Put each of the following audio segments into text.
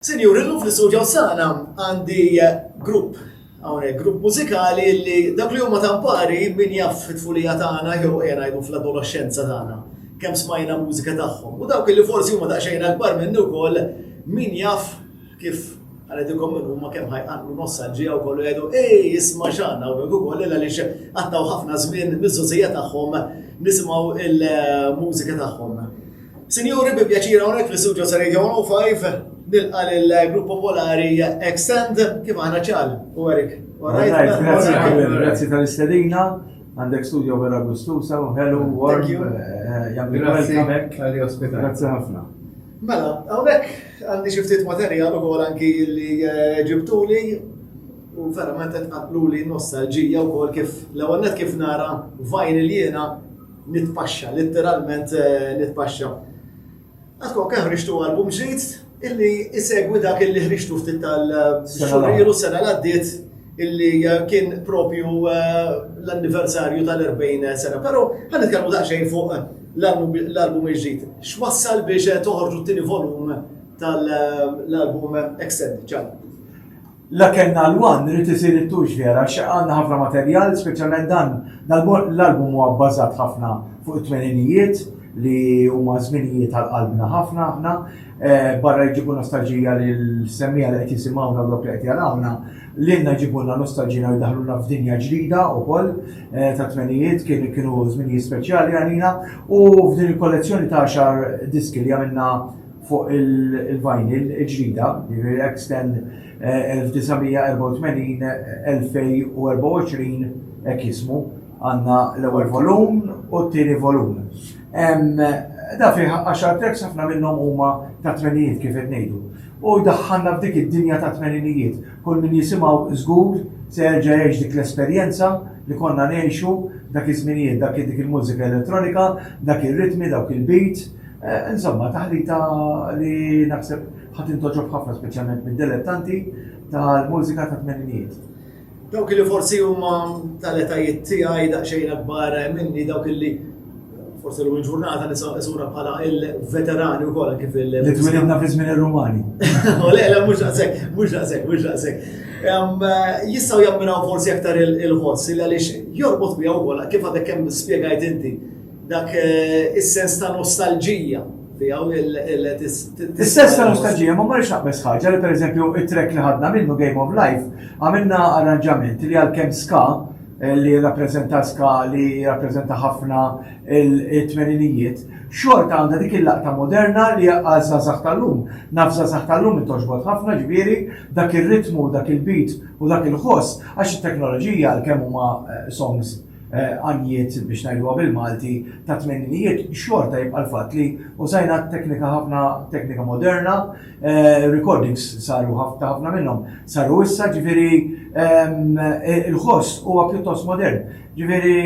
Sinjuri, llum fl-istudio tagħna għandi grupp hawnhekk, grupp mużikali li dak li huma tampari min jaf fit-tfulija tagħna jew qiegħ ngħidu fl-adoloxxenza tagħna kemm smajna mużika tagħhom. U dawk li forsi huma daqsxejn akbar minnu wkoll min jaf kif għal-edikom minn huma kemm ħajqanqlu nostalġija u kollu jgħidu ej isma' xana u ukoll illa li għattaw ħafna żmien miż-żużija tagħhom nisimgħu il-mużika tagħhom. Sinjuri, bi pjaċir hawnhekk fl-istudio ta' Radio 105 nilqa' lill-Grupp Popolari Extend kif aħna ċal u Erik. Grazzi tal-istedina, għandek studio vera gustusa u hello, warm, eh, jgħamil għal-kamek. Grazzi ħafna. Mela, għawnek għandi xiftit materjal u għol anki li eh, ġibtuli u verament għatqatlu li nostalġija u għol kif l-għonnet kif nara vajn il-jena Nitpaxxa, litteralment nitpaxxa. Għadkom kemm ħriġtu album ġdid illi isegwi dak illi ħriġtu ftit tal-xurilu sena l-għaddiet illi eh, kien propju eh, l-anniversarju tal-40 sena. Pero għan nitkellmu daqsxejn fuq eh, l-album iġġid. X'wassal biex toħorġu t-tieni volum tal-album Extended ċan? La kellna l-one, irid isir it-twox vera għax għandna ħafna materjal, speċjalment dan l-album huwa bbażat ħafna fuq it-tmeninijiet li huma żminijiet għal qalbna ħafna aħna, barra jġibu nostalġija lill-semmiegħa li qed jisimgħuna u dawk li qed jarawna, lilna jġibulna nostalġija u jdaħħluna f'dinja ġdida wkoll tat-tmenijiet, kienu żminijiet speċjali għalina u f'din il-kollezzjoni ta' għaxar diski li għamilna fuq il-vinyl il-ġdida, jiġifieri Xtend 1984-2024 hekk jismu, għandna l-ewwel volum u t-tieni volum. Dan fih għaxar tracks ħafna minnhom huma tat-tmeninijiet kif qed ngħidu. U jdaħħalna f'dik id-dinja tat-tmeninijiet. Kull min jisimgħu żgur se jerġa' jgħix dik l-esperjenza li konna ngħixu dak iż-żminijiet, dik il-mużika elettronika, dak ir-ritmi, dawk il-beats, Insomma, taħlita li naħseb ħa tintgħoġob ħafna speċjalment mid-delettanti tal-mużika tat-tmeninijiet. Dawk li forsi huma tal-etajiet tiegħi daqsxejn akbar minni dawk li forse l ġurnata nisa isura bħala il-veterani u kolla kif il- Li twilidna fi żmien ir-Rumani. U le, le, mhux daqshekk, mhux daqshekk, mhux daqshekk. Jistgħu jammiraw forsi aktar il-ħoss li għaliex jorbot miegħu kolla kif għadek kemm spjegajt inti Dak is-sens ta' nostalġija tiegħu li Is-sens ta' nostalġija ma marriċ naqbes ħaġa li pereżempju it-trek li ħadna minnu Game of Life għamilna arranġament li għalkemm ska eh, li rappreżenta ska li rappreżenta ħafna il-tmeninijiet, xorta għandha dik il-laqta moderna li għal zazax tal-lum. Naf zazax tal-lum intoġbot ħafna ġviri, dak il-ritmu, dak il-beat u dak il-ħoss, għax il-teknoloġija għal-kemm huma eh, songs għanjiet, biex ngħiduha bil-Malti, tat-tmeninijiet, xorta jibqa' l-fatt li użajna teknika ħafna, teknika moderna, recordings saru ta' ħafna minnhom saru issa, ġifieri l-ħoss huwa pjuttost modern. Ġifieri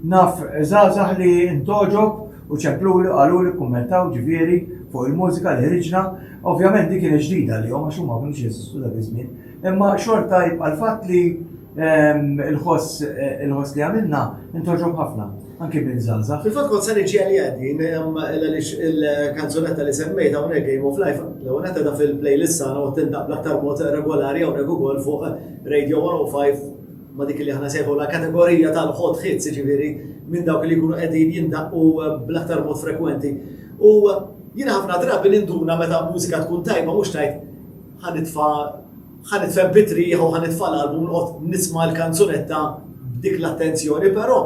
naf żgħażagħ li ntgħoġob u ċempluli u qaluli, kkummentaw ġifieri fuq il-mużika li ħriġna. Ovvjament din kienet ġdida għalihom għax huma ma kinux jeżistu dak iż-żmien. Imma xorta jibqa' l-fatt li, Il-ħoss il-ħoss li għamilna intoġob ħafna, anki minn zaza. Fil-fatt kont sani ġieli għaddin, għalix il-kanzunetta li semmejt għawnek Game of Life, l għunetta da fil-playlist sana u tindaq bl-aktar mod regolari għawnek u għol fuq Radio 105 ma dik li ħana sejħu la kategorija tal-hot hits, ġiviri, minn dawk li jkunu għedin jindaqqu bl-aktar mod frekwenti. U jina ħafna drabi ninduna meta mużika tkun tajba mux tajt ħanitfa Ħa nitfen bit-triħ u ħa nitfa' l-qalb u noqgħod nisma' l-kanzunetta b'dik l-attenzjoni, però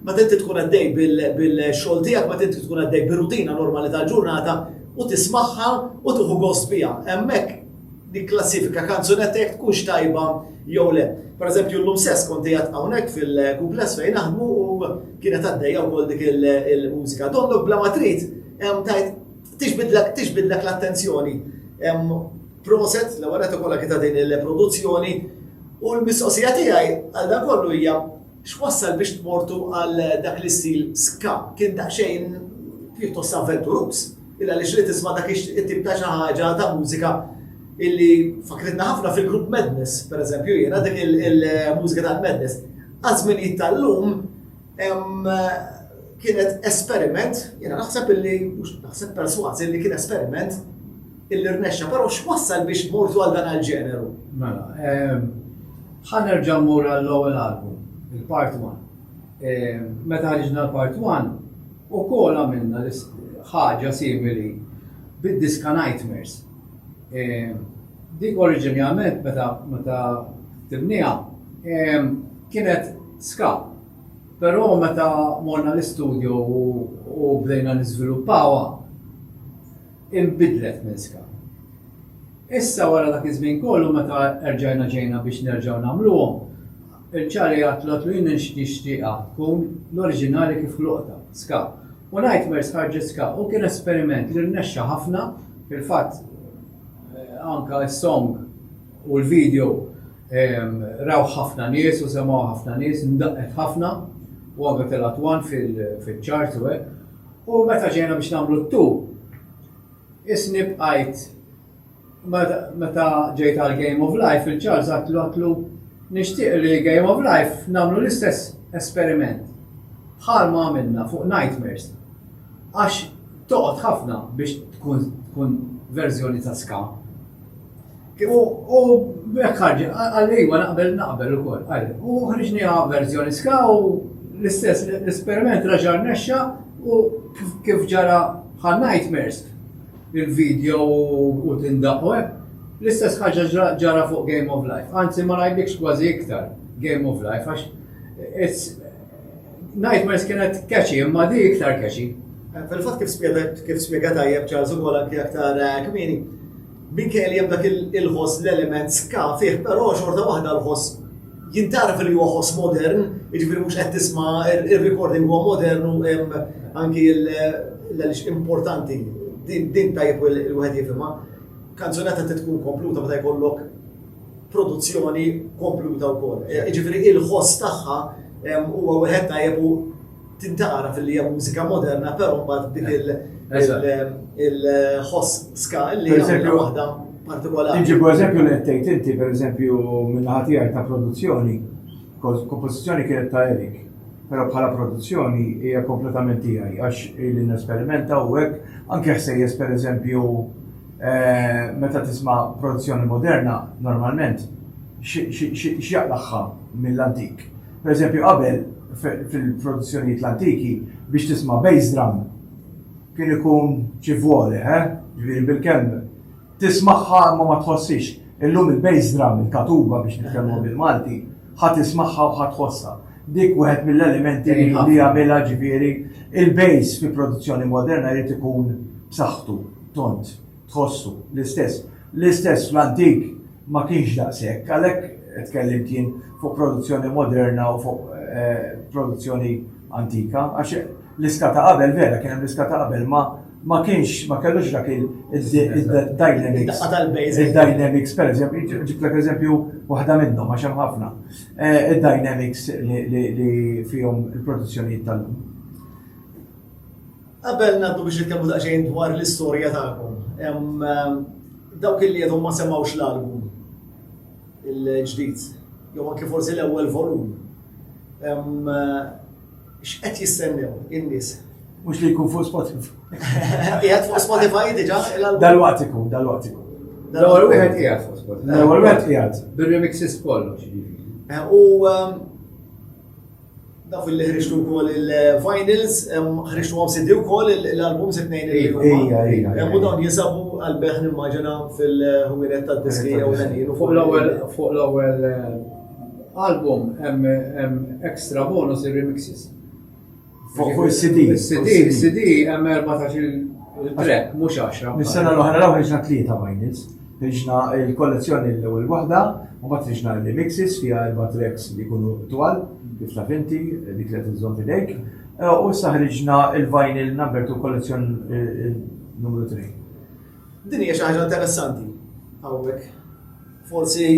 meta inti tkun għaddej bil-xogħol tiegħek, meta inti tkun għaddej bir-rutina normali tal-ġurnata u tismagħha u tieħu gost biha, hemmhekk nikklassifika kanzunetta jekk tkunx tajba jew le. Pereżempju llum stess kont qiegħed hawnhekk fil-kuples fejn naħdmu u kienet għaddejja wkoll dik il-mużika. Donnok bla ma trid tajt tixbidlek l-attenzjoni. Proset, l-ewwel qed ukoll kita din il-produzzjoni u l-mistoqsija tiegħi għal dan kollu hija x'wassal biex tmortu għal dak l-istil ska kien daqsxejn pjuttost avventurus. Illa li xrid tisma' dak it-tip ta' xi ħaġa ta' mużika illi fakritna ħafna fil-grupp Madness, per eżempju, jiena dik il-mużika ta' Madness. Għazmin jittallum kienet esperiment, jiena naħseb illi, naħseb perswazi li kien esperiment Illi rnexxa, però x'wassal biex mortu għal dan għall-ġeneru? Mela, ħa nerġa' mmur għall-ewwel album, il-Part One. Meta ħriġna l-Part One, ukoll għamilna ħaġa simili bid-diska Nightmares. Dik oriġinjament meta tibniha kienet ska, però meta morna l-istudju u bdejna niżviluppawha, inbidlet minn skam. Issa wara dak iż-żmien kollu meta erġajna ġejna biex nerġgħu nagħmluhom, il-ċari għad tlgħod lil jien nixtieqha tkun l-oriġinali kif ħluqtha, ska. U Nightmares ħarġet ska u kien esperiment li rnexxa ħafna, fil-fatt anke s-song u l-video rawh ħafna nies u semgħuha ħafna nies, ndaqqet ħafna u anke telgħet one fil-charts u hekk. U meta ġejna biex nagħmlu t-tu, isni bqajt meta ġejt għal Game of Life il-Charles għatlu għatlu nixtieq li Game of Life nagħmlu l-istess esperiment bħal ma għamilna fuq Nightmares. Għax toqgħod ħafna biex tkun verżjoni ta' ska. U b'hekk ħarġ, qal iva naqbel naqbel ukoll, qal. U ħriġniha verżjoni ska u l-istess l-esperiment raġa' rnexxa u kif ġara bħal nightmares il-video u tindaqu hekk. L-istess ħaġa ġara fuq Game of Life. Anzi ma ngħidlikx kważi iktar Game of Life għax Nightmares kienet catchy imma di iktar catchy. Fil-fatt kif spjegat kif spjegat tajjeb Charles ukoll anke aktar kmieni Minkejja li hemm dak il-ħoss l-element ska fih però xorta waħda l-ħoss jintgħaraf li huwa ħoss modern, jiġifieri mhux qed tisma' ir-recording huwa modern u hemm anki l-għaliex importanti din tajjeb il-wieħed jifhimha. Kanzunetta trid tkun kompluta meta jkollok produzzjoni kompluta wkoll. Jiġifieri l-ħoss tagħha huwa wieħed tajjeb u Tintgħaraf illi hija mużika moderna, però mbagħad dik il-ħoss ska li hija waħda partikolari. Tiġi eżempju li tgħid inti pereżempju minn ħatija ta' produzzjoni, kompożizzjoni kienet ta' Erik, però bħala produzzjoni hija kompletament tiegħi għax li nesperimenta u hekk anke ħsejjes pereżempju eh, meta tisma' produzzjoni moderna normalment x'jaqlaħħa mill-antik. Pereżempju, qabel, fil-produzzjonijiet l-antiki, biex tisma' bass drum kien ikun xi vwole, eh? Ġifieri bil-kemm tismagħha imma ma tħossix. Illum il-bass drum, il-katuba biex nitkellmuha bil-Malti, ħa tismagħha u ħa tħossha. Dik wieħed mill-elementi li jagħmilha ġifieri il-bass fi produzzjoni moderna jrid ikun b'saħħtu, tont. tħossu l-istess. L-istess fl-antik ma kienx daqshekk, għalhekk tkellimt jien fuq produzzjoni moderna u fuq eh, produzzjoni antika, għax l-iska ta' qabel vera kien hemm l-iska ta' qabel ma ma kienx ma kellux dak il-dynamics. Il-dynamics, per eżempju, ġiblek eżempju waħda minnhom għax hemm ħafna. Eh, il-dynamics li fihom il-produzzjonijiet tal-lum. Qabel ngħaddu biex nitkellmu daqsxejn dwar l-istorja tagħkom, dawk li għadhom ma semgħux l-album il-ġdid, jew anke forsi l-ewwel volum, x'qed jistennew in-nies? Mhux li jkun fuq Spotify. Qiegħed fuq Spotify diġà? Dal-waqt ikun, dal-waqt ikun. L-ewwel wieħed qiegħed fuq Spotify. L-ewwel wieħed qiegħed. Bir-remixes kollox. U Naf li ħriġtu wkoll il-vinyls, ħriġtu għom CD wkoll l-albums it-tnejn li huma. Hemm u dawn jinsabu għal-beħ nimmaġina fil-ħwienet tad-diski jew l-għanin. Fuq l-ewwel fuq l-ewwel eh, album hemm extra bonus ir-remixes. Fuq il-CD. CD, CD hemm 14 il-track, mhux 10. Mis-sena l-oħra l-ewwel ġna tlieta vinyls. Riġna l-kollezzjoni l-ewwel waħda, mbagħad riġna r-remixes fiha erba' tracks li jkunu twal, kif taf inti, dik li qed iżżomm f'idejk, u issa ħriġna l-vinyl number two kollezzjon numru tnejn. Din hija xi ħaġa interessanti hawnhekk. Forsi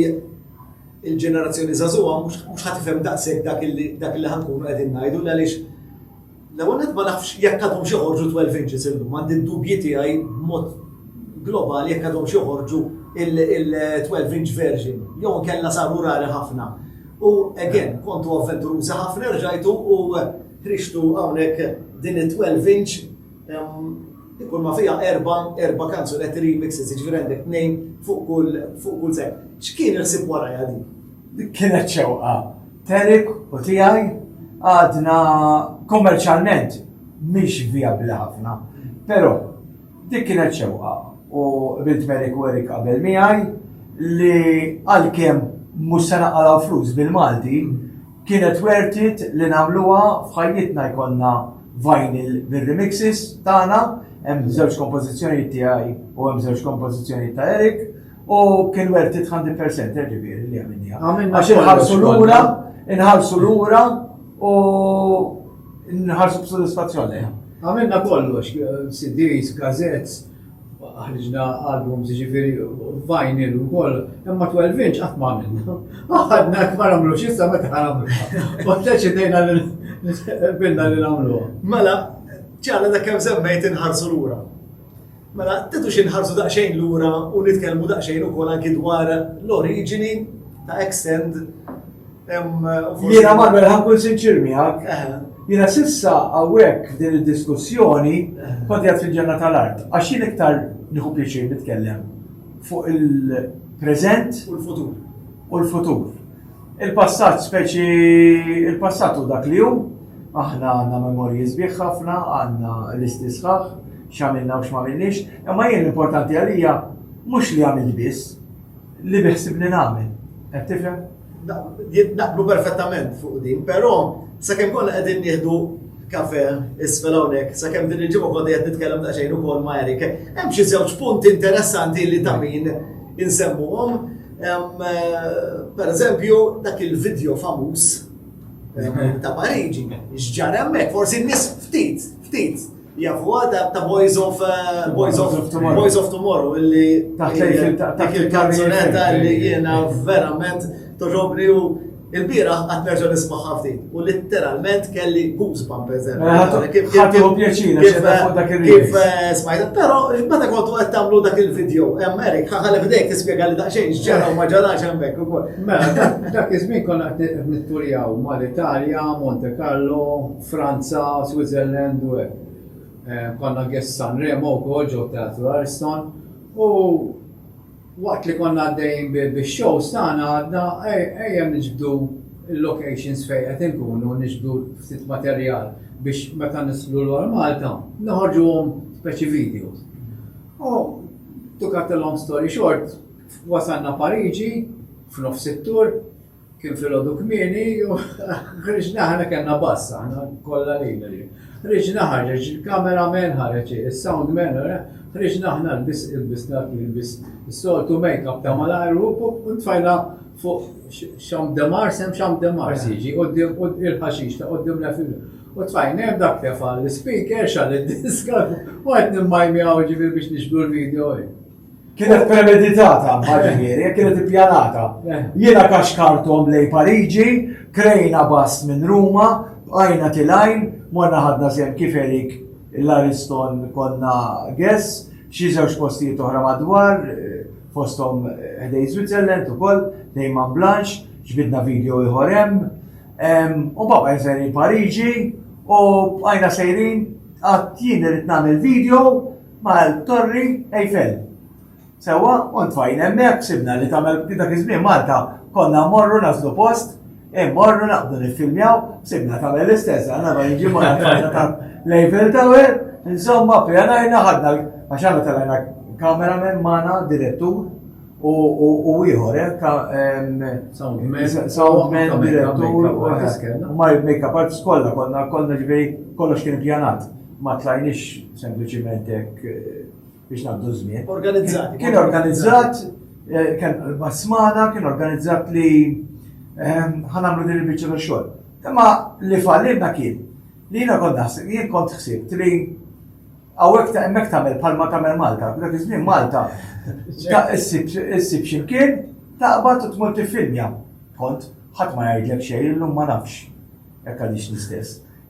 l-ġenerazzjoni żagħżugħa mhux ħa tifhem daqshekk dak li ħa nkunu qegħdin ngħidu l-għaliex L-ewwel nett ma nafx jekk għadhomx joħorġu twelve inches illum, għandi d-dubji tiegħi b'mod globali jekk għadhomx joħorġu il-twelve inch version jew inkella saru rari ħafna. U again, kontu avventurużi ħafna erġajtu u ħriġtu hawnhekk din it-twelve inch ikun ma fija erba, erba kanzunetti remixes, ġifieri għandek tnejn fuq kull fuq kull sekk. X'kien il-ħsieb warajha din? Dik kienet xewqa Terik u tiegħi għadna kummerċjalment mhix vijabbli ħafna. Però dik kienet xewqa u bint Merik u Erik qabel miegħi li għalkemm mhux se naqalgħu flus bil-Malti, kienet wertit li nagħmluha f'ħajjitna jkollna vinyl bir-remixes tagħna, hemm żewġ kompożizzjonijiet tiegħi u hemm żewġ kompożizzjonijiet ta' Erik, U kien worth it 100% eh, ġifieri li għamilniha. Għax inħarsu lura, inħarsu lura u nħarsu b'sodisfazzjon lejha. Għamilna kollox, CDs, gazettes, ħriġna albums ġifiri vinyl u koll, imma 12 inch għat ma għamilna. Għadna kmar għamlu xissa ma taħamlu. U t-teċidejna l-bilna li għamlu. Mela, ċala da kem semmejt inħarsu l-ura. Mela, tidux inħarsu daqsxejn lura u nitkellmu daqsxejn ukoll anki dwar l-oriġini ta' Extend. Jiena Manuel ħankun sinċir miegħek. Jiena sissa hawnhekk f'din id-diskussjoni kont qed fil-ġenna tal-art. Għax jien iktar nieħu pjaċir nitkellem fuq il-preżent u l-futur. u l-futur. Il-passat speċi il-passat u dak li hu, aħna għandna memorji sbieħ ħafna, għandna listi sħaħ, x'għamilna u x'magħmilniex, imma jien l-importanti għalija mhux li għamil biss, li biħsib li nagħmel. Qed tifhem? Naqblu perfettament fuq din, però sakemm konna qegħdin nieħdu kafe isfel hawnhekk, sakemm din il-ġimgħa kont qed nitkellem ta' xejn ukoll ma' Erik. Hemm xi żewġ punti interessanti li ta' min insemmuhom Pereżempju, dak il-video famuż ta' Pariġi, x'ġar hemmhekk, forsi n-nies ftit, ftit jafu għada ta' Boys of uh, Boys of Boys of Tomorrow illi dak il-kanzunetta li jiena verament toġobni u Il-bieraħ qed nerġa' nismagħha ftit u litteralment kelli goosebump eżempju. Eh, Ħadtu pjaċir kif eh, smajta, però meta kontu qed tagħmlu dak il-video hemm Erik ħalli f'dejk tispjega li daqsxejn x'ġara u ma ġarax hemmhekk ukoll. Mela, dak iż-żmien konna qed nitturjaw mal-Italja, Monte Carlo, Franza, Switzerland u hekk. Eh, konna għess Sanremo wkoll ġew teatru Ariston u Waqt li konna għaddejjin bix-shows tagħna għadna ejja niġbdu l-locations fejn qed inkunu niġbdu ftit materjal biex meta nislu lura Malta noħorġuhom speċi videos. U to cut a long story short, wasalna Pariġi f'nofs it-tour, Kien filgħodu kmieni, ħriġna ħana kellna bass, ħana kollha lejna li. Ħriġna ħarġeġ il-kameraman ħareġ is-soundman, ħriġna ħna l-bis il-bis dak il-bis soltu make-up ta' malajr u tfajna fuq xam demar, sem xam demar siġi, u il-ħaxix ta' qoddim la fil U tfajn, hemm dak tefa l-speaker, xal id-diska, u għed nimmajmi għaw ġivir biex nixbu l-video. kienet premeditata maġinieri, kienet ippjanata. Eh. Jiena kaxkartom lej Pariġi, krejna bas minn Ruma, għajna tilajn, morna ħadna sem kif erik l-Ariston konna gess, xi żewġ postijiet oħra madwar, eh, fostom eh, ħdej Switzerland ukoll, dejman Blanche, ġbidna video ieħor hemm. U baba jinżel Pariġi u għajna sejrin għat jien irrid nagħmel video mal-Torri Eiffel. Sewa, u tfajn hemmhekk sibna li tagħmel dak iż-żmien Malta konna morru naslu post, immorru naqdu niffilmjaw, sibna tagħmel l-istess, għandna ma jiġi ma ta' l-Eiffel Tower, insomma pjanajna ħadna għax għandna tal-għajna kameraman magħna direttur u ieħor eh, ta' soundman direttur u ma make-up artist kollha konna konna ġifieri kollox kien pjanat. ma tlajniex sempliċiment hekk eh, biex ngħaddu żmien. Organizzat. Kien organizzat, eh, kien basmana, kien organizzat li ehm, ħanamlu din il-biċċa ta' xogħol. Imma li fallilna kien li jiena kont naħseb, jien kont ħsibt li għawek ta' emmek tamel palma tamel Malta, dak iż-żmien Malta, ta' issib ximkien, taqbad u tmur tifilmja. Kont, ħadd ma jgħidlek xejn, illum ma nafx. Jekk għadix l-istess.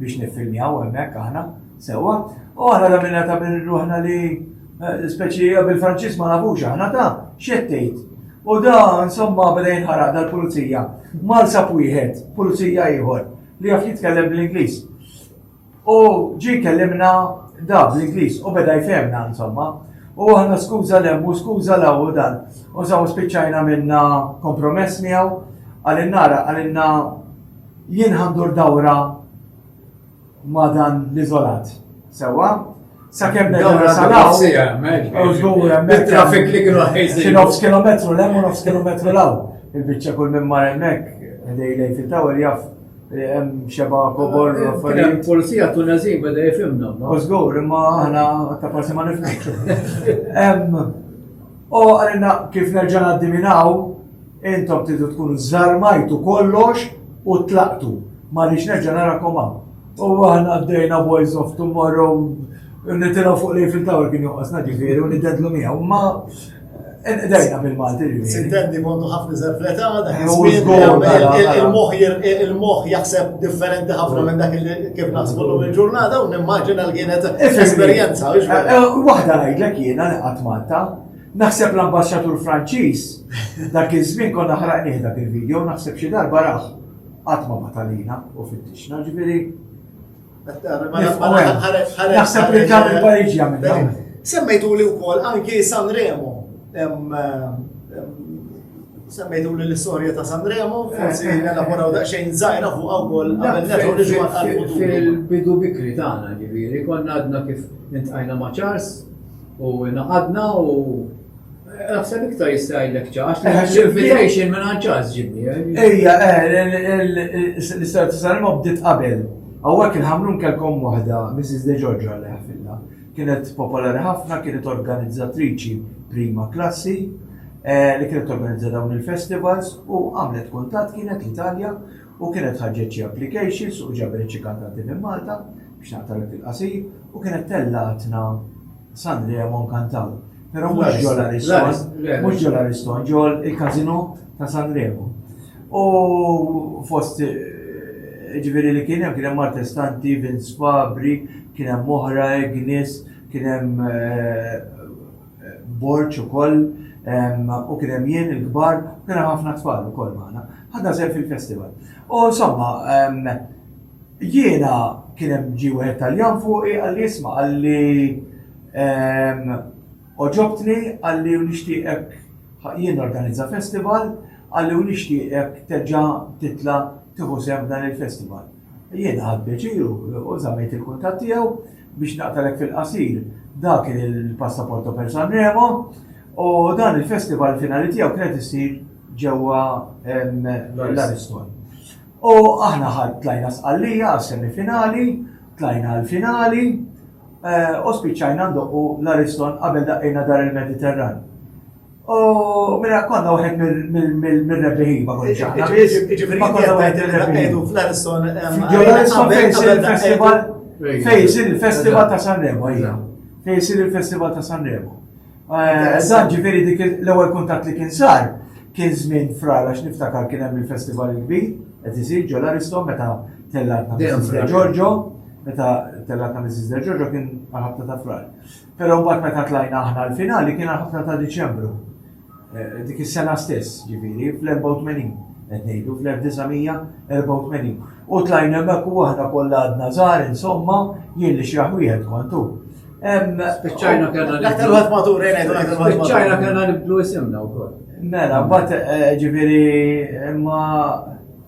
biex niffilmjaw hemmhekk aħna sewwa u aħna għamilna ta' minn ruħna li eh, speċi bil-Franċiż ma nafux aħna ta' x'qed tgħid. U da insomma bdejn ħaraq dal-pulizija. Mal sab wieħed, pulizija ieħor li jaf jitkellem bl-Ingliż. U ġi kellimna da bl-Ingliż u beda jfemna insomma. U aħna skuża l u skuża l u dan. U saw spiċċajna minna kompromess miegħu għalinna għalinna Jien ħa ndur dawra ma' dan l-iżolat. Sewwa? Sakemm nerġa' salaw. Bit-traffic li kienu ħejżin. Xi nofs kilometru l u nofs kilometru l Il-biċċa kull minn mar hemmhekk, ħdej lejn fit-tower jaf hemm xeba kobor u affarijiet. Polizija Tunezin beda jifhimna. U żgur, imma aħna ta' forsi ma nifhmux. U għalina kif nerġa' ngħaddi minn hawn, Intom tridu tkunu żżarmajtu kollox u tlaqtu. Ma rridx nerġa' narakom hawn. U aħna għaddejna Boys of Tomorrow nitilgħu fuq l-Eiffel Tower kien joqosna ġifieri u niddedlu miegħu. Ma Dajna bil-Malti ġifieri. Sintendi kontu ħafna zerfleta, il-moħ jaħseb differenti ħafna minn dak li kif naħsbu l il-ġurnata u nimmaġina l-kienet esperjenza. Waħda ngħidlek jiena li qatt Malta, Naħseb l-ambasċatur Franċiż, dak iż-żmien konna ħraqnieh dak il-video, naħseb xi darba rah qatt ma batalina u fittixna ġifieri. Naħseb li dan il-Pariġi għamilna. Semmejtu li wkoll anki San Remo. Semmejtu li l-istorja ta' San Remo, forsi eh, eh, elaboraw eh. daqsxejn żgħira fuq wkoll qabel netu li ġwan Fil-bidu bikri tagħna ġifieri, konna għadna kif intqajna ma' Charles u naqadna u Naħseb iktar jista' jgħidlek ċaħx, eh, għax l-invitation minn għanċaħx ġibni. Eh. Ejja, eh, l-istoria t-sarim bdiet qabel. Għawak il-ħamrun kelkom wahda, Mrs. De Giorgio għalli ħafilla. Kienet popolari ħafna, kienet organizzatriċi prima klassi, li kienet organizza dawn il-festivals u għamlet kuntat kienet l-Italja u kienet ħarġet xi applications u ġabet xi kantanti minn Malta biex naqtagħlek il-qasir u kienet tellgħatna San Remo nkantaw. Però mhux ġol Ariston, mhux ġol Ariston, ġol il-Casino ta' San Remo. U fost eh, ġifieri li kien hemm kien hemm Martestanti, Vince Fabri, kien hemm oħra, Ignis, kien hemm eh, borġ ukoll u kien hemm jien il-kbar u kien hemm ħafna tfal ukoll magħna. Ħadna sew fil-festival. U insomma, jiena kien hemm ġi wieħed Taljan fuqi għalli jisma' għalli oġobtni għalli u nixtieqek jien organizza festival għalli u nixtieqek terġa' titla' tieħu sehem f'dan il-festival. Jien ħadt pjaċir u żammejt il-kuntatt tiegħu. Biex naqtalek fil-qasir, dak kien il-Passaporto per Sanremo u dan il-festival il-finali tiegħu kienet issir ġewwa l-Ariston. U aħna tlajna Sqallija għas-semi finali, tlajna għall-finali u spiċċajna ndoqqu l-Ariston qabel daqqejna Dar il-Mediterran. U minna konna uħed mill-rebbiħin ma konċa. Ġifiri ma konna uħed mill-rebbiħin. Fl-Ariston. Fl-Ariston fejsir il-festival. Fejsir il-festival ta' Sanremo, ija. Fejsir il-festival ta' Sanremo. Dan ġifiri dik l-ewel kontat li kien sar, kien zmin frar għax niftakar kien hemm il-festival il-kbir, qed isir ġol Ariston meta tellatna Mrs. Giorgio, meta tellatna Mrs. Giorgio kien għal ta' frar. Però mbagħad meta tlajna aħna l-finali kien ħafna ta' Diċembru. Eh, dik is-sena stess, ġifieri, fl-84 qed ngħidu fl-1984. U tlajna hemmhekk u aħna kollha għadna żgħar insomma jien li xraħ wieħed kontu. Spiċċajna kellna nibdu. Dak il matur eh, Spiċċajna kellna nibdu isimna wkoll. Mela, mbagħad eh, ġifieri imma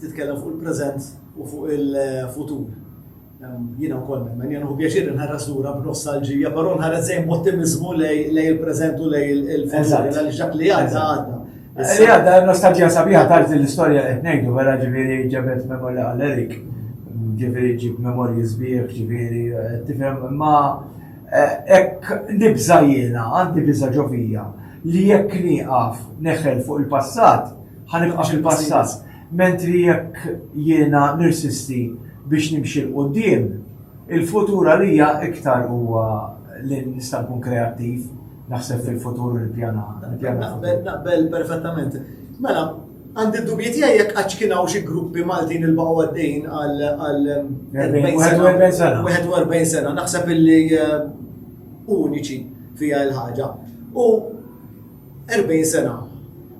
Titkellem fuq il-preżent u fuq il-futur. Jiena wkoll nemmen, jien hu pjaċir inħares lura b'nostalġija, però nħares dejjem b'ottimiżmu lejn il-preżent u lejn il-futur, għaliex dak li għadda għadda. Li għadda nostalġija sabiħa tard l-istorja qed ngħidu wara ġifieri ġabet memorja għal Erik, ġifieri ġib memorji sbieħ, ġifieri eh, tifhem ma eh, hekk nibża jiena għandi biża ġovija li jekk nieqaf neħel fuq il-passat Ħa nibqa' fil-passat. Mentri jekk jiena nirsisti biex nimxi 'l quddiem, il-futur għalija iktar huwa li nista' nkun kreattiv, naħseb fil-futur u nippjana. Naqbel, naqbel perfettament. Mela, għandi d-dubji tiegħi jekk għadx kien hawn xi gruppi Maltin li baqgħu għaddejjin għal 41 sena. 41 sena, naħseb illi eh, uniċi fiha l-ħaġa. U 40 sena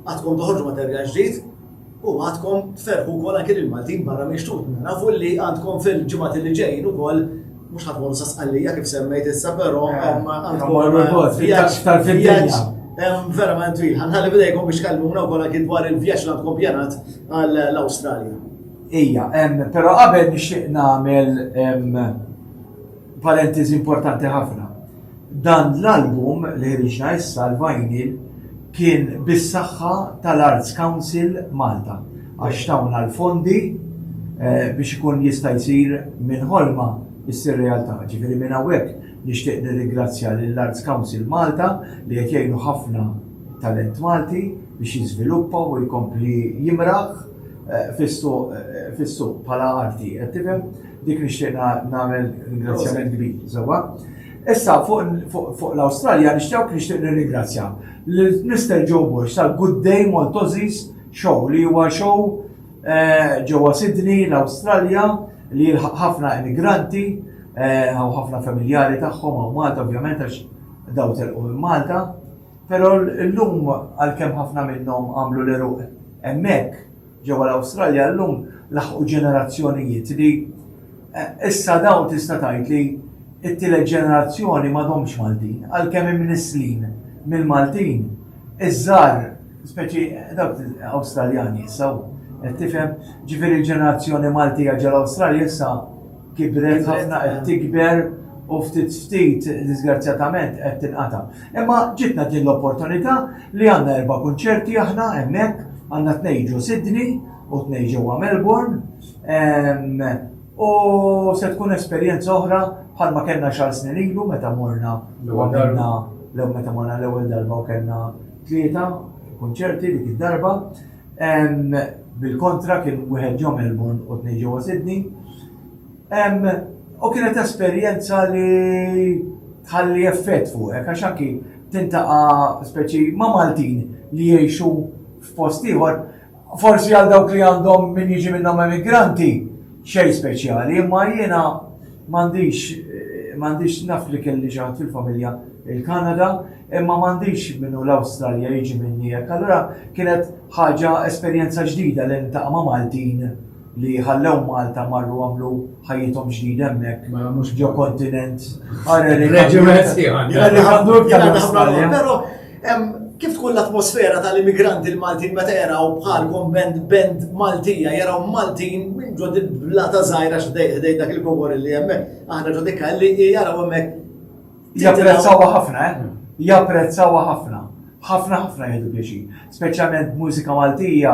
għadkom toħorġu materjal ġdid u għadkom tferrħu wkoll anke lill-Maltin barra minn xtutna. Nafu li għandkom fil-ġimgħat li ġejjin ukoll mhux ħadd morru sa Sqallija kif semmejt issa però vjaġġ verament twil. Ħanħalli bidejkom biex kallmuna wkoll anke dwar il-vjaġġ li għandkom pjanat għall-Awstralja. Ija, però qabel nixtieq nagħmel Parentesi importanti ħafna. Dan l-album li ħriġna issa l-vinyl kien bis-saħħa tal-Arts Council Malta għax tawna l-fondi eh, biex ikun jista' jsir minn ħolma issir realtà. Ġifieri minn hawnhekk nixtieq nirringrazzja lill-Arts Council Malta li qed jgħinu ħafna talent Malti biex jiżviluppa u jkompli jimraħ eh, eh, fis-suq bħala arti, qed tifhem? Dik nixtieq nagħmel ringrazzjament kbir, żewwa. Issa fuq l-Awstralja nixtieq nixtieq nirringrazzja l-Mr. Joe Bush tal-Good Day Maltozis Show li huwa show eh, ġewwa Sydney l-Awstralja li jilħaq ħafna immigranti eh, u ħafna familjari tagħhom u Malta ovvjament għax daw telqu minn Malta. Però l-lum għalkemm ħafna minnhom għamlu l-eruq hemmhekk Ġewwa l-Awstralja llum laħqu ġenerazzjonijiet li issa dawn tista' tgħid li t-tielet ġenerazzjoni m'għadhomx Maltin, għalkemm imnisslin mill-Maltin, iż-żgħar, speċi dawk Awstraljani issa, qed tifhem, ġifieri l-ġenerazzjoni Maltija ġol-Awstralja issa kibret ħafna, qed tikber u ftit ftit diżgrazzjatament qed tinqata'. Imma ġietna din l-opportunità li għandna erba' kunċerti aħna hemmhekk, għandna tnejn ġo Sydney u tnejn ġewwa Melbourne u se tkun esperjenza oħra bħalma kellna xahar snin ilu meta morna u għamilna meta morna l-ewwel darba u kellna tlieta kunċerti dik id-darba. Bil-kontra kien wieħed ġo Melbourne u tnejn ġewwa Sydney. U kienet esperjenza li tħalli effett fuqek għax anki tintaqa' speċi ma' Maltin li jgħixu f'post ieħor. Forsi għal dawk li għandhom min jiġi minnhom emigranti, Xejn speċjali, imma jiena m'għandix, m'għandix, naf li kelli xi ħadd fil-familja il-Kanada, imma m'għandix min hu l-Awstralja jiġi minni hekk. Allura kienet ħaġa, esperjenza ġdida li niltaqa' ma' Maltin li ħallew Malta marru għamlu ħajjithom ġdida hemmhekk. Mela mhux ġo kontinent. Reġiment ieħor. Però Hemm kif tkun l-atmosfera tal-immigranti l-Maltin meta jaraw bħalkom band band Maltija, jaraw Maltin minn ġod il-blata żgħira x'dej dak il-kobor li hemmhekk, aħna ġod ikkalli jaraw hemmhekk. Japprezzawha ħafna, eh? Japprezzawha ħafna ħafna ħafna jgħidu biex, speċjalment mużika Maltija,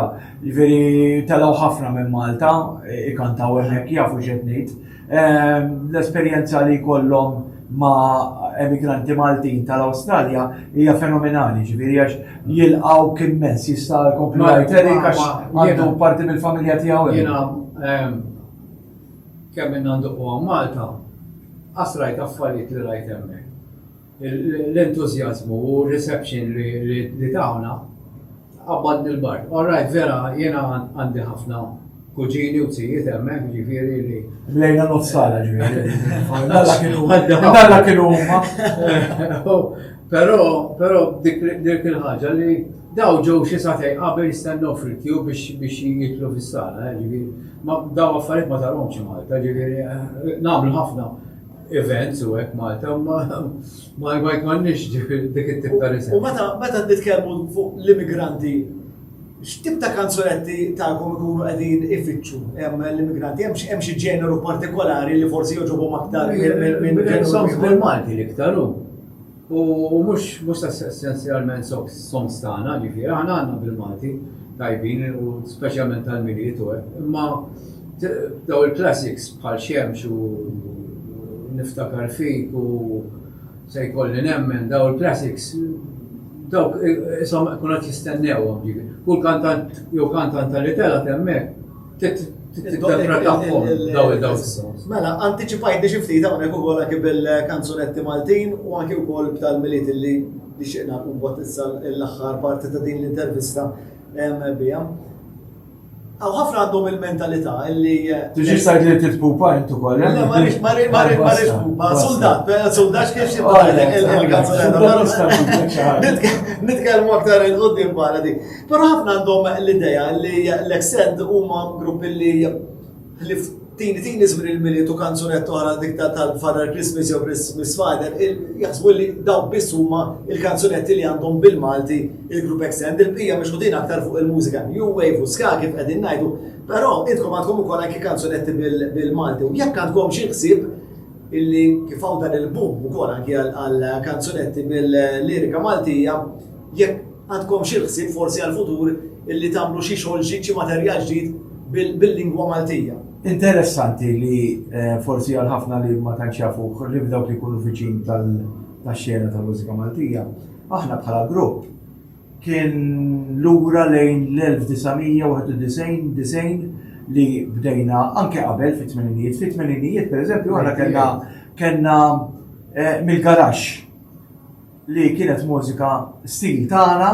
veri telgħu ħafna minn Malta, ikantaw hemmhekk jafu x'qed ngħid. L-esperjenza li jkollhom ma' emigranti Maltin tal-Awstralja hija fenomenali, ġifieri għax jilqgħuk immens, jista' jkompli jgħid Eric għax għandu parti mill-familja tiegħu hemm. Jiena kemm ilna nduqquha Malta, qatt rajt affarijiet li rajt hemmhekk. L-entużjażmu u r-reception li tawna qabbadni l-bark. Alright, vera, jiena għandi ħafna kuġini u zijiet hemmhekk, jiġifieri li. Mlejna nofs sala Alla kienu huma. Però dik il-ħaġa li daw ġew xi satej qabel jistennew fil-kju biex jidħlu fis-sala, jiġifieri. Daw affarijiet ma tarhomx Malta, jiġifieri nagħmlu ħafna. events u hekk Malta, ma ma jkollniex dik it-tip ta' riżen. U meta meta nitkellmu fuq l-immigranti, x'tip ta' kanzunetti tagħkom ikunu qegħdin ifittxu hemm l-immigranti, hemm xi ġeneru partikolari li forsi joġobhom aktar minn ġeneru Malti li iktar hu. U mhux mhux essenzjalment sob soms tagħna, ġifieri aħna għandna bil-Malti tajbin u speċjalment tal-Milied u hekk, imma daw il-classics bħal Xemx u Niftakar fik u Se jkolli nemmen daw il-classics dawk isom kun qed jistennewhom ġifieri. Kull kantant jew kantant li telgħet hemmhekk Tinterpretahom daw il-daw fis-sens. Mela, antiċipajt biex ftit hawnhekk ukoll anke bil-kanzunetti Maltin u anke wkoll b'tal-miliet li nixtieqna nkun bot issa l-aħħar parti ta' din l-intervista biha. Għaw ħafna għandhom il-mentalità illi. Eh, Tiġi sajt li titpupa intu kol. Eh? Le, marriċ, marriċ, marriċ, marriċ, pupa. Soldat, eh, soldat kif xie bħalek il-kanzunetta. Nitkelmu aktar il-qoddim bħala di. Però ħafna għandhom l-idea li l-extend huma grupp li li tini tini żmien il-miliet u kanzunet oħra dik tal-Father Christmas jew Christmas Father, jaħsbu li daw biss huma il-kanzunetti li għandhom bil-Malti il-grupp extend il-bija biex din aktar fuq il-mużika New Wave u ska kif qegħdin ngħidu, però intkom għandkom ukoll anki kanzunetti bil-Malti u jekk għandkom xi ħsieb illi kif hawn dan il-boom ukoll anki għal kanzunetti bil-lirika Maltija, Jekk għandkomx il-ħsieb forsi għall-futur illi tagħmlu xi xogħol ġdid, xi materjal ġdid bil-lingwa Maltija. Interessanti li forsi għal ħafna li ma tantx jafuh li f'dawk li jkunu viċin tax-xena tal-mużika Maltija, aħna bħala grupp kien lura lejn l-1991, 90 li bdejna anke qabel fit-tmeninijiet. Fit-tmeninijiet, pereżempju, aħna kellna kellna mill-garaxx. li kienet mużika stil tagħna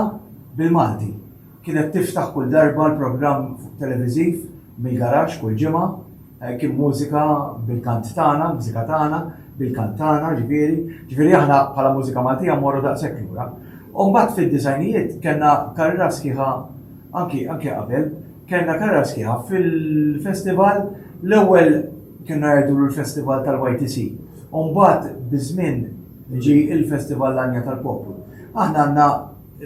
bil-Malti. Kienet tiftaħ kull darba l-programm televiżiv mill-garaxx kull ġimgħa, kien mużika bil-kant tagħna, l-mużika tagħna, bil-kant tagħna, ġifieri, ġifieri aħna bħala mużika Maltija mmorru daqshekk lura. U mbagħad fid-disajnijiet kellna karriera sħiħa anki anki qabel, kellna karriera sħiħa fil-festival l-ewwel kienna jgħidulu l-festival tal-YTC. U mbagħad biż-żmien Ġie il-Festival L-Għanja tal-Poplu. Aħna għandna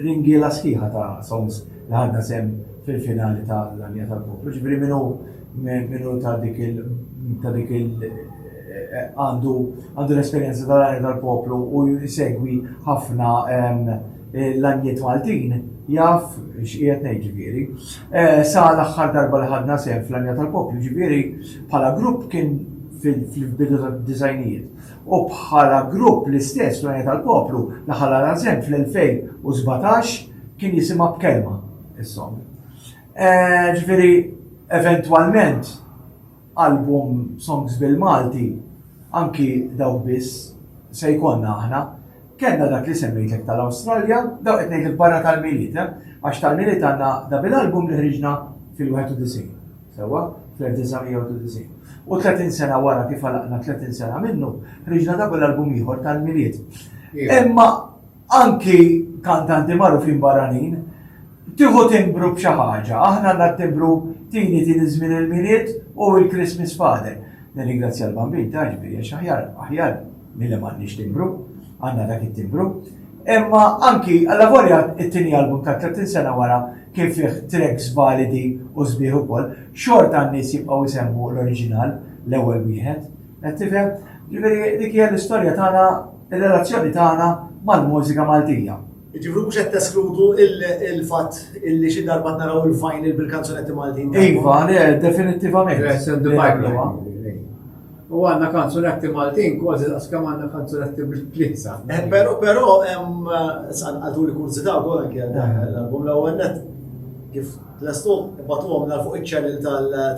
ringiela sħiħa ta' songs li ħadna sehem fil-finali ta' L-Għanja tal-Poplu. Ġifieri min hu min hu ta' dik il ta' dik il għandu għandu l-esperjenza ta' L-Għanja tal-Poplu u jsegwi ħafna l-għanjiet Maltin jaf x'qiegħed ngħid ġifieri. Sa l-aħħar darba li ħadna sehem fl-Għanja tal-Poplu ġifieri bħala grupp kien fil-bidu tad-disgħinijiet. u bħala grupp l-istess l-Unjoni tal-Poplu daħal għal Ażem fl-2017 kien jisimha b'kelma is-song. Eh, ġifieri eventwalment album songs bil-Malti anki dawk biss se jkollna aħna. Kenna dak li semmejtek tal-Awstralja, dawk qed ngħidlek barra tal-miliet, eh? għax tal-miliet għandna da bil-album li ħriġna fil-91. Sewwa, fl-1993. U tletin sena wara kif għalaqna tletin sena minnu, ħriġna double album ieħor tal-Milied. Imma anki kantanti magħrufin barranin, tieħu timbru b'xi ħaġa, aħna għandna timbru tini tini żmien il-Milied u l-Christmas Father. Nirringrazzja l-bambin ta' ġbiri, aħjar, aħjar Min li m'għandniex timbru, għandna dak it-timbru. Imma anki alla volja it-tieni album ta' 30 sena wara kien fih tracks validi u sbieħ ukoll, xorta n-nies jibqgħu jsemmu l-oriġinal l-ewwel wieħed. Qed tifhem? Ġifieri dik hija l-istorja tagħna, ir-relazzjoni tagħna mal-mużika Maltija. Ġifri mhux qed teskludu il-fatt illi xi darba naraw il-vinyl bil-kanzunetti Maltin. Iva, le, definittivament. U għandna kanzunetti Maltin kważi daqs kemm għandna kanzunetti bl-Plizza. Eh, però però hemm għadu li kurzita wkoll anke l-album l-ewwel net kif lestu batuhom nar fuq iċ-ċellil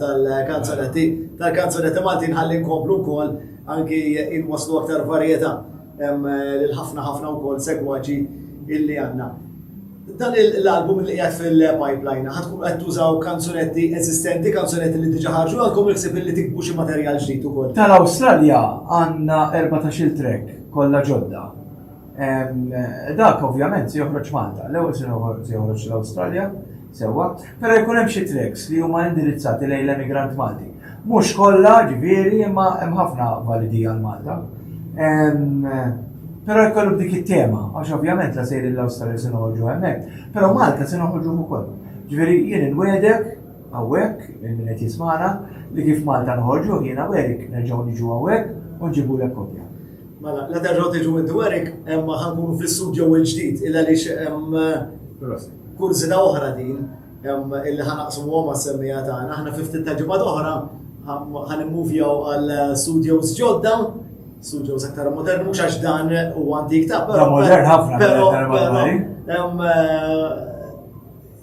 tal-kanzunetti tal-kanzunetti Maltin ħalli nkomplu wkoll anki inwaslu aktar varjetà. Hemm lil ħafna ħafna wkoll segwaġi illi għandna. Dan l-album li qiegħed fil-pipeline, ħad tkun qed tużaw kanzunetti eżistenti, kanzunetti li diġa ħarġu għalkom il-ksib li tikbu xi materjal ġdid ukoll. Tal-Awstralja għandna 14 trek kollha ġodda. Dak ovvjament se joħroġ Malta, l-ewwel se joħroġ l-Awstralja, Sewwa, però jkun hemm xi tracks li huma indirizzati lejn l-emigrant Malti. Mhux kollha, ġifieri, imma hemm ħafna validi għal Malta. Però jkollu b'dik it-tema, għax ovvjament la sejrin l-Awstralja se noħorġu hemmhekk, però Malta se noħorġu ukoll. Ġifieri jien inwedek hawnhekk minn min qed jismana li kif Malta noħorġu jiena werik nerġgħu niġu hawnhekk u nġibulek kopja. Mela, la terġgħu tiġu minn dwarek, imma ħankunu fl-istudju il-ġdid, il għaliex hemm. Proset. Kurżità oħra din illi ħa naqsmuhom mas-semmija tagħna, aħna fi ftit ta' ġimgħat oħra ħan immuvjaw għal studios ġodda, studios aktar modern, mhux għax dan u għandi iktar. Però modern ħafna, però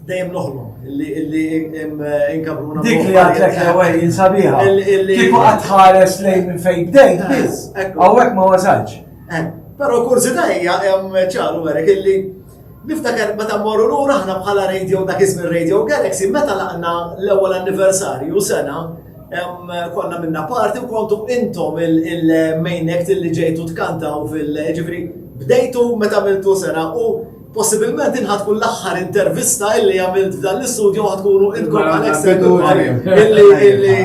dejjem noħlu illi inkabruna. Dik li għatlek l-ewel jinsabiħa. Kiku għatħares lejn minn fejn bdejt, eh, biz. Għawek ma wasalx. Eh, Pero kursi dajja, ċaru għarek illi Niftaker meta mmorru lura aħna bħala radio dak iż-żmien Radio Galaxy meta laqna l-ewwel anniversarju sena konna minna parti u kontu intom il-main act li ġejtu tkantaw fil-ġifri bdejtu meta miltu sena u possibilment inħat kun l-axħar intervista illi għamilt f'dan l-istudio għat kunu inkom għalek sedu illi illi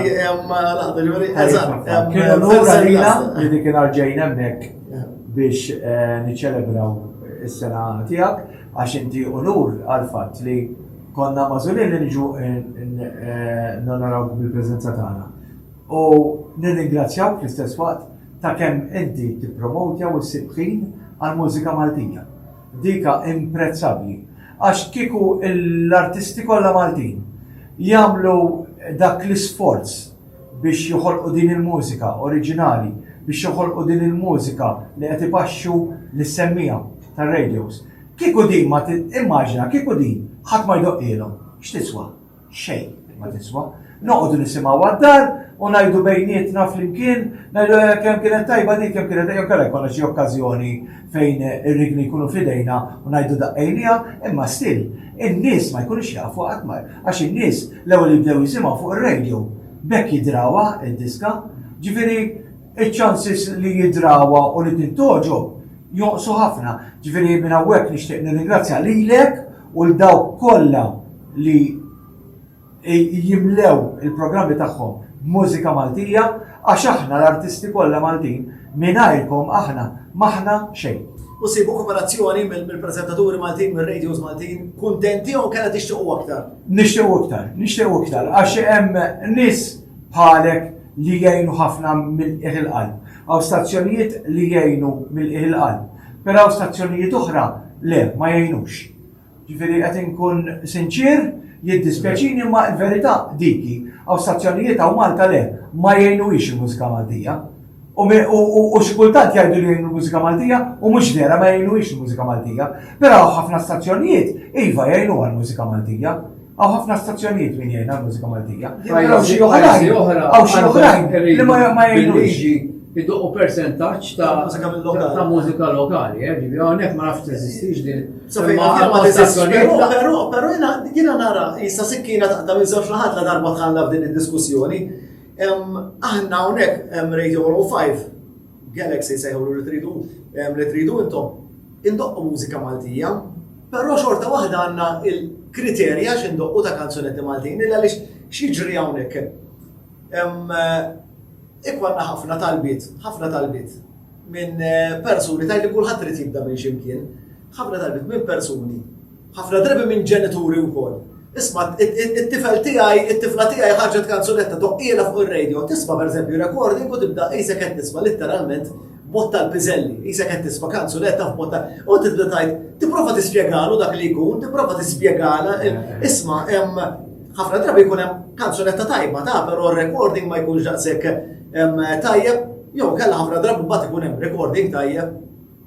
laħdu ġuri, eżat. Kienu l-għura li dik il-arġajn emmek biex niċċelebraw is-sena tiegħek għax inti unur għall-fatt li konna magħżulin li niġu nonorawk bil-preżenza tagħna. U nirringrazzjawk fl-istess waqt ta' kemm inti tippromowtja u ssib ħin għall-mużika Maltija. Dika imprezzabbli għax kieku l-artisti kollha Maltin jagħmlu dak l-isforz, biex joħolqu din il-mużika oriġinali, biex joħolqu din il-mużika li qed ipaxxu lis-semmiegħa tar-radios. Kieku din ma immaġina kieku din ħadd ma jdoqqilhom, x'tiswa? Xejn ma tiswa. Noqogħdu nisimgħu għad-dar u ngħidu bejnietna flimkien, ngħidu eh, kemm kienet tajba dik, kemm kienet jew kellha jkollna xi okkażjoni fejn ir-rigni jkunu f'idejna u ngħidu daqqejnieha, imma still in-nies ma jkunux jafuha qatt ma, għax in-nies l-ewwel jibdew jisimgħu fuq ir-radio, b'hekk jidrawha d-diska, ġifieri ċ-chances li jidrawha u li tintgħoġob jonqsu ħafna. Ġifieri minn hawnhekk nixtieq nirringrazzja lilek u 'l dawk kollha li jimlew il-programmi tagħhom b'mużika Maltija għax aħna l-artisti kollha Maltin mingħajrkom aħna m'aħna xejn. U ssibu koperazzjoni mill-preżentaturi Maltin, mir-radios Maltin, kuntenti jew kellha tixtiequ aktar? Nixtiequ iktar, nixtiequ iktar għax hemm nies bħalek li jgħinu ħafna mill-qiegħ il-qalb. Hawn stazzjonijiet li jgħinu mill-qiegħ il-qalb, però hawn stazzjonijiet oħra le ma jgħinux. Ġifieri qed inkun sinċier, jiddispjaċini imma l-verità dik hi, hawn stazzjonijiet hawn Malta le, ma jgħinuhiex il-mużika Maltija. U xi kultant jgħidu li jgħinu l-mużika Maltija u mhux vera ma jgħinuhiex il-mużika Maltija. Però hawn ħafna stazzjonijiet iva jgħinuha l-mużika Maltija. Għaw ħafna stazzjonijiet min jgħin għal mużika Maltija. Għaw xi oħrajn, għaw xi oħrajn li ma jgħinux. Iduqqu percentaċ ta' mużika lokali, eh, ġibi għonek ma nafx t-esistix din. Pero, pero jina nara, jista sikkina ta' minn zewġ laħat la darba tħalla f'din il-diskussjoni. Aħna għonek, Radio 105, Galaxy sejħulu li tridu li tridu intom. Indoqqu mużika Maltija, però xorta waħda għandna il-kriterji għax indoqqu ta' kanzunetti Maltin illa għaliex x'jiġri hawnhekk. Ikwanna ħafna talbiet, ħafna talbiet minn persuni tgħid li kulħadd irid jibda minn xi mkien, ħafna talbiet minn persuni Ħafna drabi minn ġenituri wkoll. Isma' it-tifel tiegħi, it-tifla tiegħi ħarġet kanzunetta toqqiela fuq ir-radio, tisma' pereżempju recording u tibda qisek qed tisma' litteralment bot tal-piżelli, qisek qed tisma' kanzunetta f'bot tal u tibda tajt, tipprova tispjegalu dak li jkun, tipprova tispjegala, isma' hemm ħafna drabi jkun hemm kanzunetta tajba ta' però recording ma jkunx daqshekk tajjeb, jew kellha ħafna drabi mbagħad ikun hemm recording tajjeb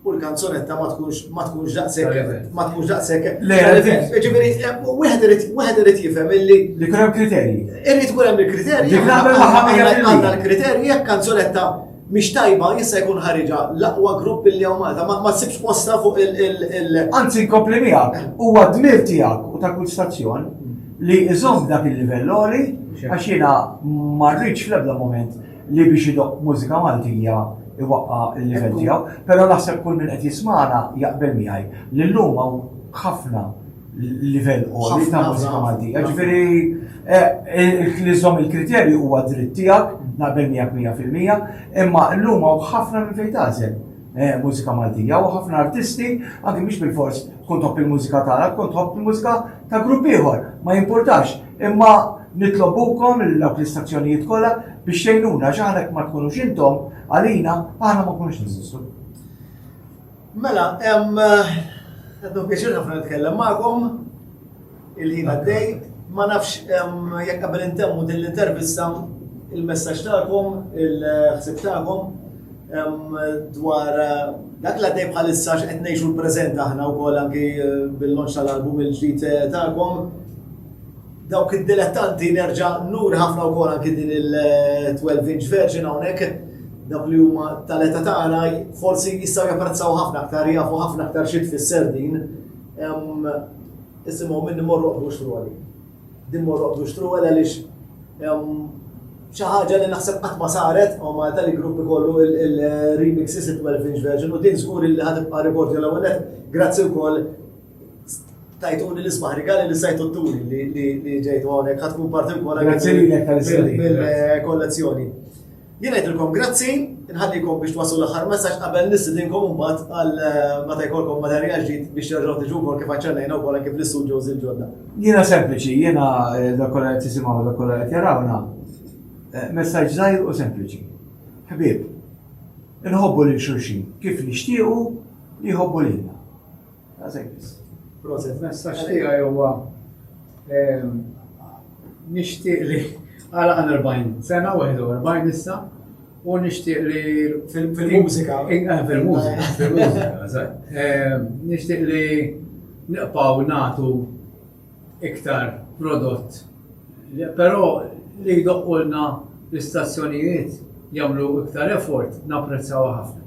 U l-kanzonetta ma tkunx ma tkunx daqshekk ma tkunx daqshekk. Le, ġifieri eh, wieħed irid wieħed irid jifhem illi li kun hemm kriterji. Irid kun hemm il-kriterji. Għandna l-kriterji jekk kanzonetta mhix tajba jista' jkun ħariġa l-aqwa grupp li hawn Malta ma tsibx posta fuq il- Anzi nkompli miegħek huwa dmir tiegħek u ta' kull stazzjon li iżomm dak il-livell għax jiena ma rridx fl-ebda moment li biex idoqq mużika Maltija iwaqqa' l-livell tiegħu, però naħseb kull min qed jismagħna jaqbel miegħi li llum hawn ħafna livell għoli ta' mużika Maltija. Ġifieri eh, li żomm il-kriterju huwa dritt tiegħek, naqbel miegħek mija fil-mija, imma llum hawn ħafna minn fejn tażel eh, mużika Maltija u ħafna artisti, anke mhux bil-fors tkun topp il-mużika tagħna, tkun topp il-mużika ta' grupp ieħor, ma jimpurtax, imma nitlobukom lil dawk l-istazzjonijiet kollha biex tgħinuna għax aħna jekk ma tkunux intom għalina aħna ma nkunux neżistu. Mela, qed nħobbiex ħafna nitkellem magħkom il-ħin għaddej, ma nafx jekk qabel intemmu din l-intervista il-messaġġ tagħkom, il-ħsieb tagħkom. dwar eh, dak li għaddej bħalissa x'qed ngħixu l-preżent aħna wkoll anki eh, bil-lonċ tal-album il-ġdid eh, tagħkom. Dawk id-dilettanti nerġa' nur ħafna wkoll anki din il-12 inch version hawnhekk dawk li huma tal-età tagħna forsi jistgħu japprezzaw ħafna aktar jafu ħafna aktar xi tfisser din. Isimgħu minn morru qbux roli. Din mor oqbdu xtruwel għaliex xi ħaġa li naħseb qatt ma saret u Malta li grupp ikollu il-remixes il-12 inch version u din żgur li ħad tibqa' rekord jew l-ewwel grazzi wkoll tajtuni l-isbaħ rigali li sajtu t-turi li ġejtu hawnhekk ħad tkun parti wkoll mill-kollezzjoni. Jien ngħidilkom grazzi, inħallikom biex twasslu l-aħħar messaġġ qabel nistidinkom imbagħad għal meta jkollkom materjal ġdid biex terġgħu tiġu wkoll kif aċċennejna wkoll anke fl-istudios il-ġodda. Jiena sempliċi, jiena dak kollha qed jisimgħu dak kollha qed jarawna. Eh, messaġġ żgħir u sempliċi. Ħbieb, inħobbu lil xulxin kif nixtiequ li jħobbu lilna. Proset, messaġġ tiegħi huwa ehm, nixtieq li għala 40 sena, 41 issa, u nixtieq li fil-mużika. Eh, fil-mużika, fil-mużika, ehm, nixtieq li naqpaw natu iktar prodott però li jdoqqulna l-istazzjonijiet jagħmlu iktar effort napprezzawha ħafna.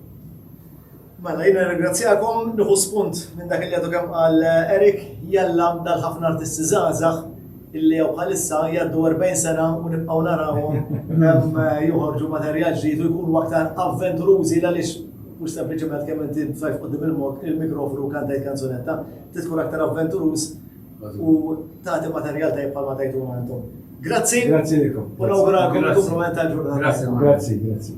Mela jiena nirringrazzjakom, nieħu spunt minn dak li għadu kemm qal Eric, jalla dal ħafna artisti żgħażagħ illi jew bħalissa jgħaddu 40 sena u nibqgħu narawhom eh, joħorġu materjal ġdid u jkunu aktar avventurużi għaliex mhux sempliċement kemm inti sajf qudiem il-mikrofonu kantajt kanzunetta, Trid tkun aktar avventuruż u tagħti materjal tajjeb bħalma tajtuna intom. Grazzi. Grazzi lilkom. U nawguralkom il-kumplament tal-ġurnata. Grazzi, grazzi.